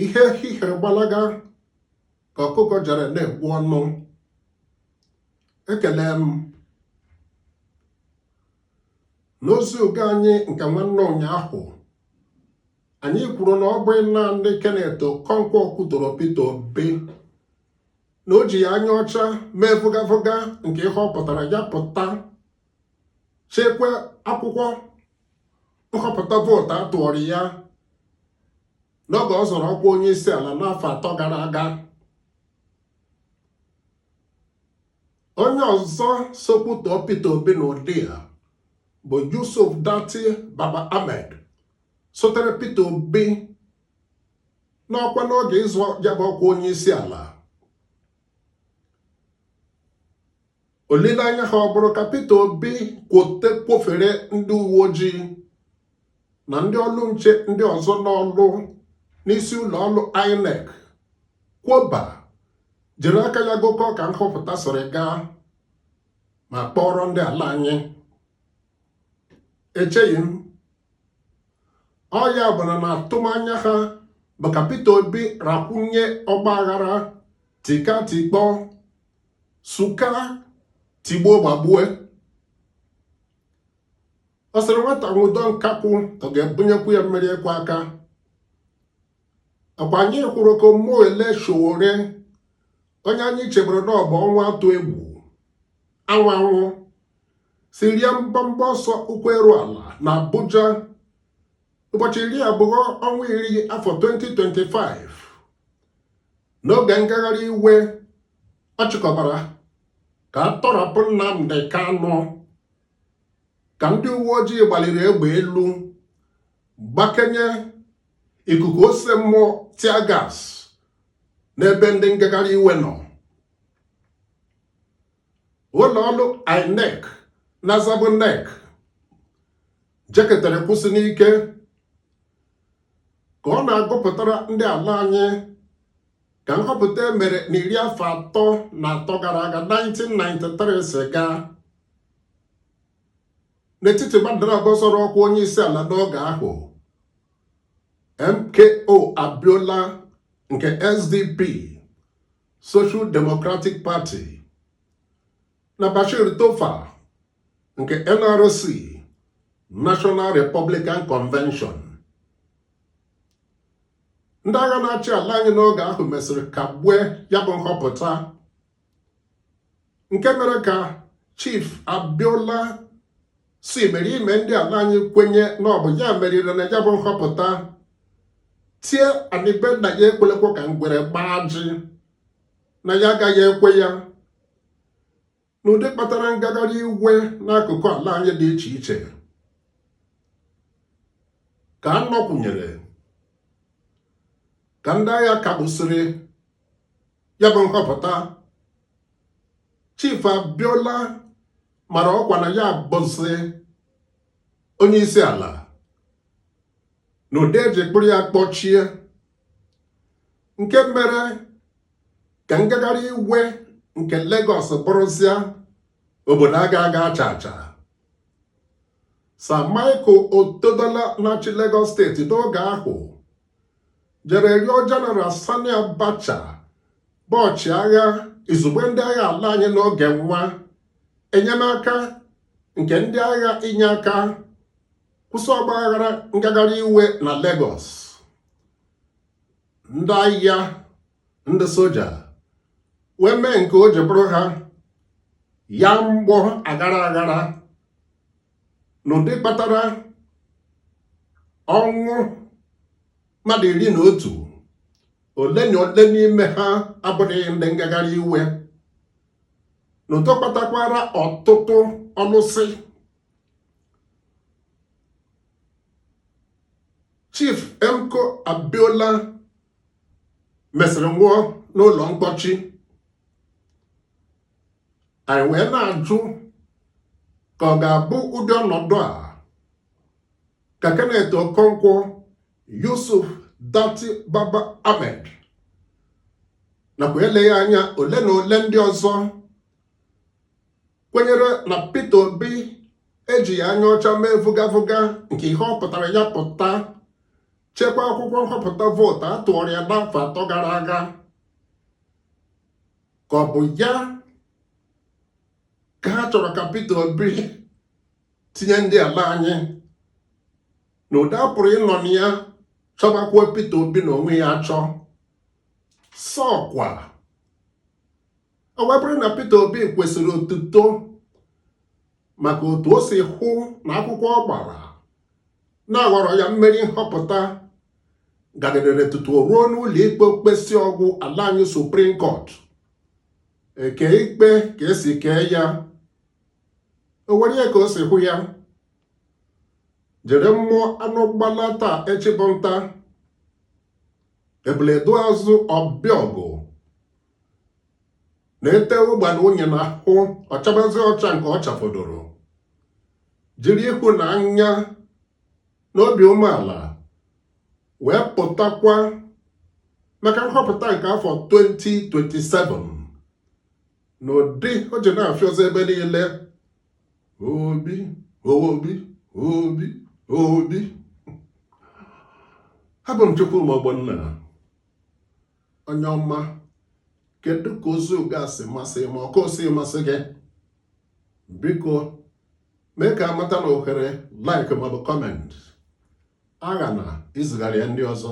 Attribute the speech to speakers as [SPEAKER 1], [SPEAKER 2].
[SPEAKER 1] ihe hihere gbalaga ka ọkụkọ jere na-ekwu ọnụ ekele m n'ozi oge anyị nke nwanne ụnyaahụ anyị kwuru na ọ bụghị naanị Kenneth Okonkwo kwutoro Peter Obi na o jighị anya ọcha mee vụgavụga nke ihe ọ pụtara ya pụta chekwa akwụkwọ nhọpụta vootu a tụọrọ ya n'oge ọ zọrọ ọkwa onye isi ala n'afọ atọ gara aga onye ọzọ so kwutọọ Peter Obi n'ụdị a bụ Yusuf Datti Baba Ahmed sotere Peter Obi n'ọkwa n'oge ịzọ ya bụ ọkwa onye isi ala olileanya ha ọ bụrụ ka Peter Obi kwote kwofere ndị uwe ojii na ndị ọrụ nche ndị ọzọ n'ọrụ n'isi ụlọ ọrụ INEC kwoba jiri aka ya gụkọ ka nhọpụta siri gaa ma kpọọrọ ndị ala anyị echeghị m o ya bụrụ na atụmanya ha bụ ka Peter Obi rakwunye ọgba aghara tika tikpọ suka tigbuo gbagbue ọ sịrị nwata nwụdo nkakwụ ọ ga-ebunyekwu ya mmiri ịkwọ aka ọkwa anyị kwuru ka Omoyele Sowore onye anyị chebere na ọ bụ ọnwa atụ egwu anwụ anwụ si rie mbọmbọ ọsọ ụkwụ eru ala na Abuja ụbọchị iri abụọ ọnwa iri afọ 2025 n'oge ngagharị iwe ọ chịkọbara ka a tọrapụ Nnamdi Kanu ka ndị uwe ojii gbaliri egbe elu gbakenye ikuku ose mmụọ tiagas n'ebe ndị ngagharị iwe nọ ụlọ ọrụ INEC na-azabụ NEC jeketara kwụsị n'ike ka ọ na-agụpụtara ndị ala anyị ka nhọpụta e mere na iri afọ atọ na atọ gara aga 1993 si gaa n'etiti mmadụ naabọ zọrọ ọkwa onye isi ala n'oge ahụ MKO Abiola nke SDP Social Democratic Party na Bashir Tofa nke NRC National Republican Convention ndị agha na-achị ala anyị n'oge ahụ mesịrị kagbue ya bụ nhọpụta nke mere ka Chief Abiola so imerime ndị ala anyị kwenye na ọ bụ ya meriri na ya bụ nhọpụta tie anị be nna ya ekwelekwa ka ngwere gbaa ajị na ya agaghị ekwe ya n'ụdị kpatara ngagharị iwe n'akụkụ ala anyị dị iche iche ka a nọkwụnyere ka ndị agha kagbusịrị ya bụ nhọpụta Chief Abiola mara ọkwa na ya bụzi onye isi ala n'ụdị e ji kpụrụ ya kpọchie nke mere ka ngagharị iwe nke Lagos bụrụzịa obodo aga aga acha acha Sir Michael Otedola na-achị Lagos steeti n'oge ahụ jere rịọ General Sani Abacha bụ ọchịagha izugbe ndị agha ala anyị n'oge nwa enyemaka nke ndị agha inye aka kwụsị ọgba aghara ngagharị iwe na Lagos ndị ahịa ndị soja wee mee nke o ji bụrụ ha ya mgbọ aghara aghara n'ụdị kpatara ọnwụ mmadụ iri na otu ole na ole n'ime ha abụghị ndị ngagharị iwe n'ụdị kpatakwara ọtụtụ ọlụsị Chief MKO Abiola mesịrị nwụọ n'ụlọ mkpọchi anyị wee na-ajụ ka ọ ga-abụ ụdị ọnọdụ a ka Kenneth Okonkwo Yusuf Datti Baba Ahmed nakwa eleghị anya ole na ole ndị ọzọ kwenyere na Peter Obi ejighị anya ọcha mee vụgavụga nke ihe ọ pụtara ya pụta chekwa akwụkwọ nhọpụta vootu a tụọrọ ya n'afọ atọ gara aga ka ọ bụ ya ka ha chọrọ ka Peter Obi tinye ndị ala anyị na ụdị a pụrụ ịnọ na ya chọbakwuo Peter Obi na onwe ya achọ sọkwa ọ bụrụ na Peter Obi kwesịrị otuto maka otu o si hụ na akwụkwọ ọ gbara na a ghọrọ ya mmeri nhọpụta gaderere tutu o ruo n'ụlọ ikpe o kpesịa ọ gwụ ala anyị Supreme Court ekee ikpe ka e si kee ya o were ya ka o si hụ ya jiri mmụọ anụ gbalaa taa echi bụ nta ebule dọọ azụ ọ bịa ọgụ na e tee ụgbana unyi na ahụ ọ chabazie ọcha nke ọ chafọdụrụ jiri ịhụnanya na obi umeala wee pụtakwa maka nhọpụta nke afọ 2027 n'ụdị o ji na-afịọzi ebe niile Obi Obi Obi Obi abụ m Chukwuma Ogbonna onye ọma kedu ka ozi oge a si masị ma ọkụ si masị gị biko mee ka a mata na ohere like maọbụ comment aghana izigara ya ndị ọzọ